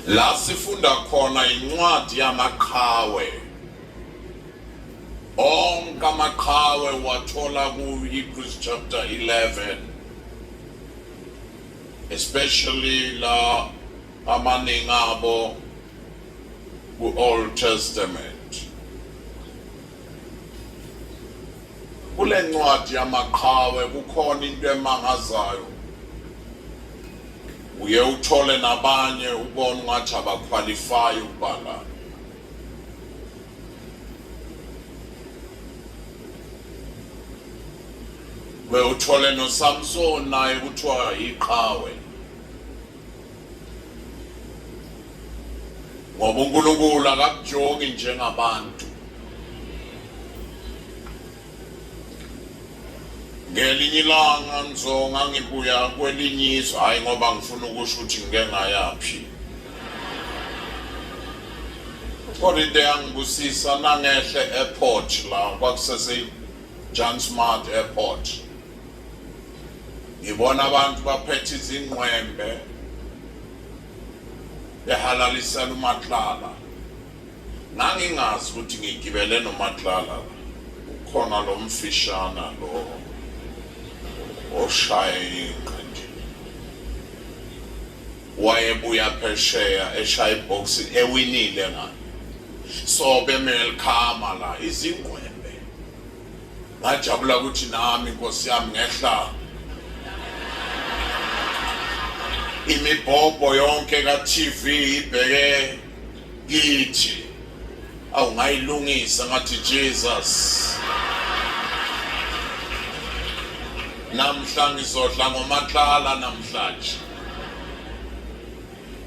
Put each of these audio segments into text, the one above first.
La sifunda khona incwadi yamaqhawe. Onke amaqhawe wathola ku-Hebrews chapter 11 especially la amaningi abo ku-Old Testament. Kule ncwadi yamaqhawe kukhona into emangazayo. Uye uthole nabanye ubona ungathi abaqualify ukubhala. Uye uthole noSamson naye kuthiwa iqhawe. ngoba uNkulunkulu akakujoki njengabantu ngelinye ilanga ngizonga ngibuya kwelinye izwe hhayi ngoba ngifuna ukusho ukuthi ngike ngayaphi kodwa into eyangibusisa nangehle airport la kwakusesejohn smart airport ngibona abantu baphethe izingqwembe behalalisela umatlala ngangingazi ukuthi ngigibele nomatlala ukhona lo mfishana lo oshaye ingqindi wayebuya phesheya eshaya ibhoksi ewinile ngani so bemele likhama la izingqwembe ngajabula ukuthi nami inkosi yami ngehla imibhobho yonke ka-tv ibheke kithi awungayilungisa ngathi jesus namhla ngizodla ngomatlala namhlanje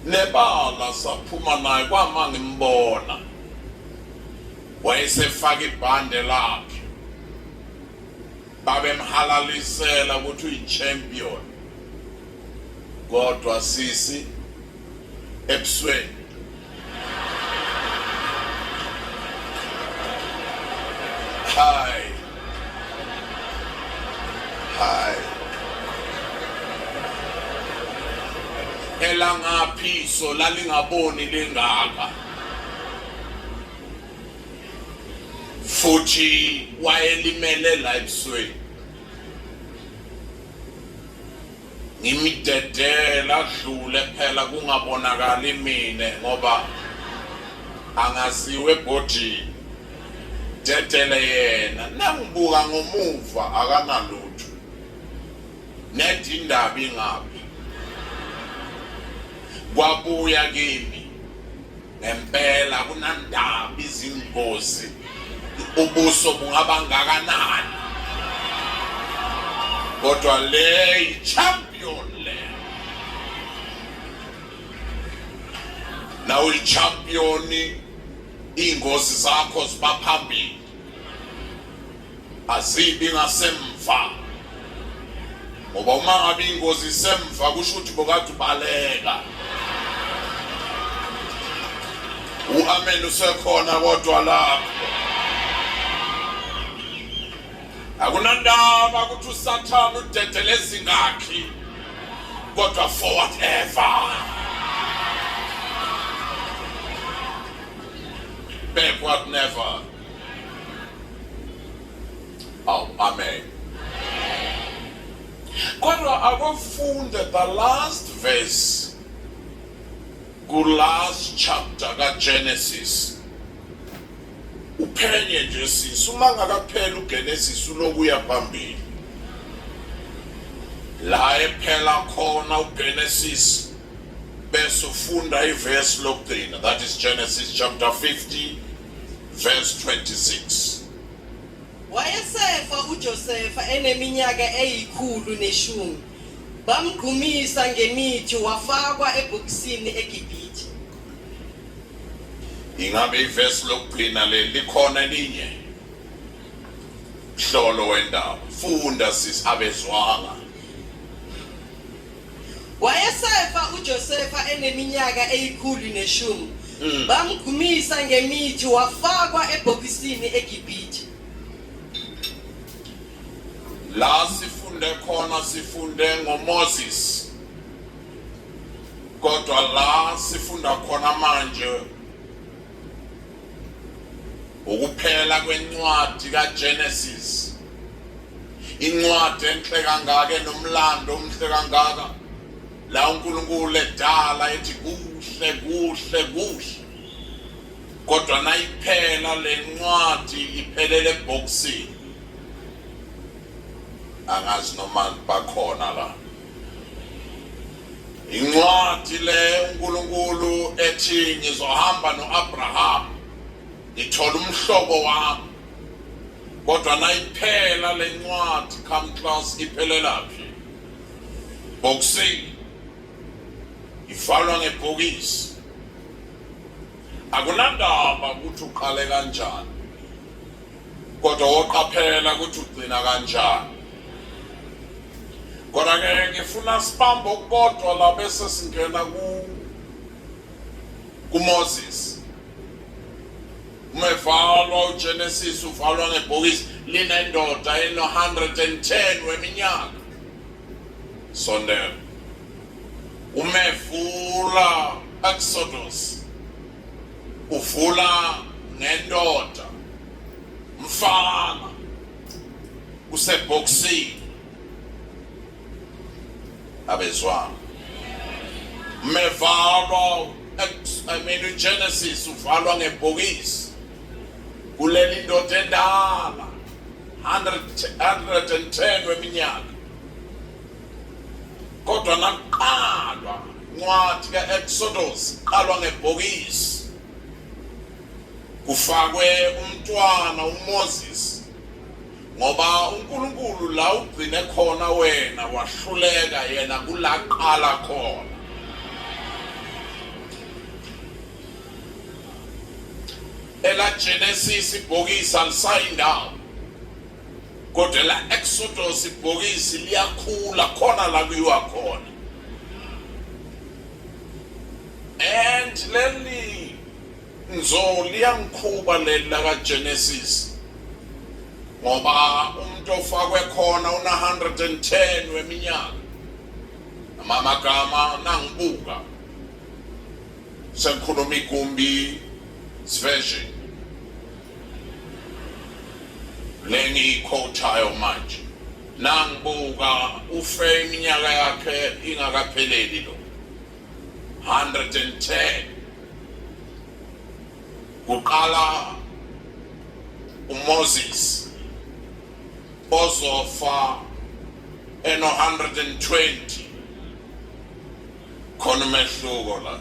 nebala saphuma naye kwama ngimbona wayesefaka ibhande lakhe babemhalalisela ukuthi uyi-champion kodwa sisi ebusweni hayi hayi elangaphiso lalingaboni lingaka futhi wayelimele la ebusweni ngimidedela adlule phela kungabonakali mina ngoba angaziwe ebhodini dedele yena nangibuka ngomuva akanalutho nedi indaba ingaphi kwabuya kimi ngempela kunandaba izingozi ubuso bungaba ngakanani kodwa le champion le nawe champion ingozi zakho zibaphambili azibi ngasemva ngoba uma ngabe ingozi isemva kusho ukuthi bokade ubaleka uamen usekhona kodwa lapho akunandaba ukuthi usathane udedele ezingakhi kodwa for whatever back what never Aw, amen. Kodwa abafunde the last verse ku last chapter ka Genesis. Uphenye nje sisi uma ngakaphela uGenesis uloku uya phambili. La ephela khona uGenesis bese ufunda iverse lokugcina that is Genesis chapter 50 Verse 26. Wayesefa uJosefa eneminyaka eyikhulu neshumi. Bamgqumisa ngemithi wafakwa ebhokisini eGibhithe. Ingabe ivesi lokugcina leli likhona elinye? Hlolo wendaba. Funda sis abezwanga. Wayesefa uJosefa eneminyaka eyikhulu neshumi. Mm. Bamgumisa ngemithi wafakwa ebhokisini eGibhithe. La sifunde khona sifunde ngoMoses. Kodwa la sifunda khona manje Ukuphela kwencwadi kaGenesis. Incwadi enhle kangaka enomlando omhle kangaka. La uNkulunkulu edala ethi kuhle kuhle kuhle. Kodwa nayiphela lencwadi iphelele ebhoksini. Angazi noma bakhona la. Incwadi le uNkulunkulu ethi ngizohamba noAbraham ngithola umhlobo wami. Kodwa nayiphela lencwadi come class iphelela phi? Boxing ivalwa ngebhokisi. Akunandaba ukuthi uqale kanjani. kodwa woqaphela ukuthi ugcina kanjani kodwa-ke ngifuna sibambe okukodwa la bese singena kumoses uma evalwa ugenesis uvalwa ngebhokisi linendoda eno-110 weminyaka sondela umevula exodus uvula ngendoda mfana usebhoksini abezwana mevalwa I mean uGenesis uvalwa ngebhokisi kuleli ndoda endala 110 weminyaka kodwa nakuqalwa incwadi ka-exodus qalwa ngebhokisi kufakwe umntwana umoses ngoba unkulunkulu la ugcine khona wena wahluleka yena kulaqala khona ela genesis ibhokisi alisayi ndawo kodwa la exodus ibhokisi liyakhula khona la kuyiwa khona and leli nzo liyangikhuba leli lakagenesis ngoba umuntu ofakwe khona una-110 weminyaka amamagama nangibuka sengikhuluma igumbi siversion lengiyikhothayo manje nangibuka ufe iminyaka yakhe ingakapheleli lo 110 kuqala uMoses ozofa eno 120 khona umehluko la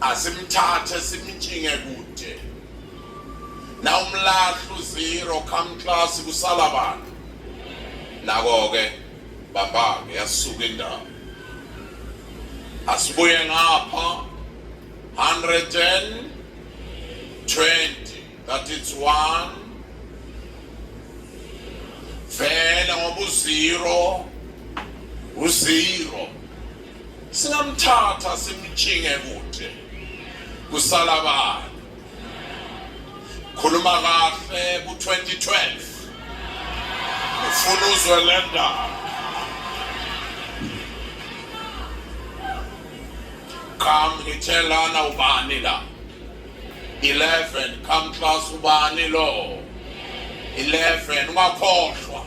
asimthathe simtshinge kude nawumlahlu zero come class kusala abantu nako-ke bambake yasuka indawo asibuye ngapha 120 that is one vele ngoba uzero uzero singamthatha simtshinge kude kusala bani khuluma kahle ku-2012 ufuna uzwe le ndaba qam ngithelana ubani la 11 come class ubani lo 11 ungakhohlwa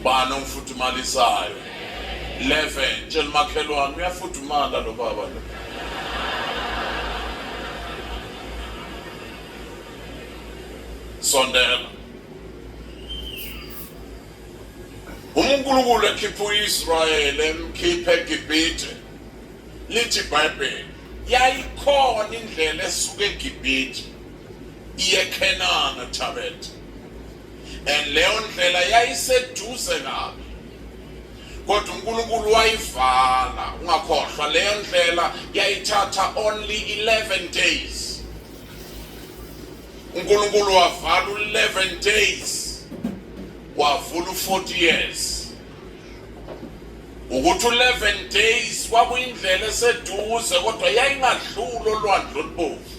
ubani ongifudumalisayo 11 tshela umakhelwane uyafudumala lo baba lo sondela uma unkulunkulu ekhipha u-israyeli emkhipha egibhithe lithi ibhayibheli yayikhona indlela esuke egibhithe iye khenana thabethe and leyo ndlela yayiseduze kabi kodwa uNkulunkulu wayivala ungakhohlwa leyo ndlela yayithatha only 11 days uNkulunkulu wavala u11 days wavula u40 years ukuthi u11 days kwakuyindlela eseduze kodwa yayingadluli olwandle olubomvu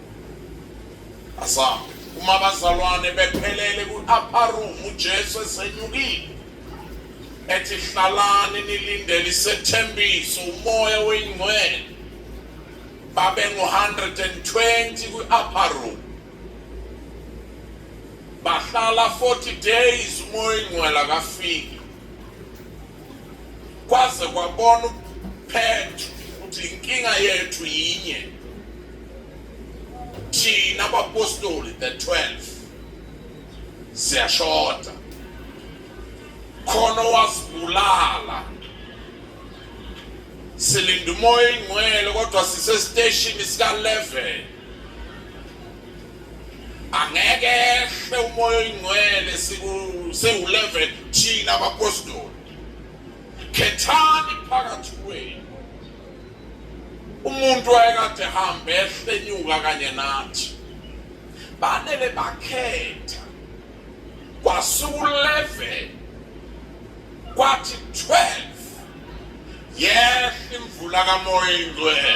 Asam uma abazalwane bephelele ku-upper room uJesu esenyukile ethi hlalani nilindele isethembiso umoya weyingcwele babe ngo-120 kwi-upper room bahlala 40 days umoya oyingcwele akafiki kwaze kwabona uphethu ukuthi inkinga yethu yinye thina abapostoli the 12 siyashoda khona wasibulala silinda umoya ingcwele kodwa sisesiteshini sika-11 angeke ehle umoya oyingcwele siku-11 thina abapostoli khethani phakathi kwenu umuntu wayekade hambe ehlenyuka kanye nathi banele bakhetha kwasuku-11 kwathi 12 Yes, imvula kamoya ingcwele.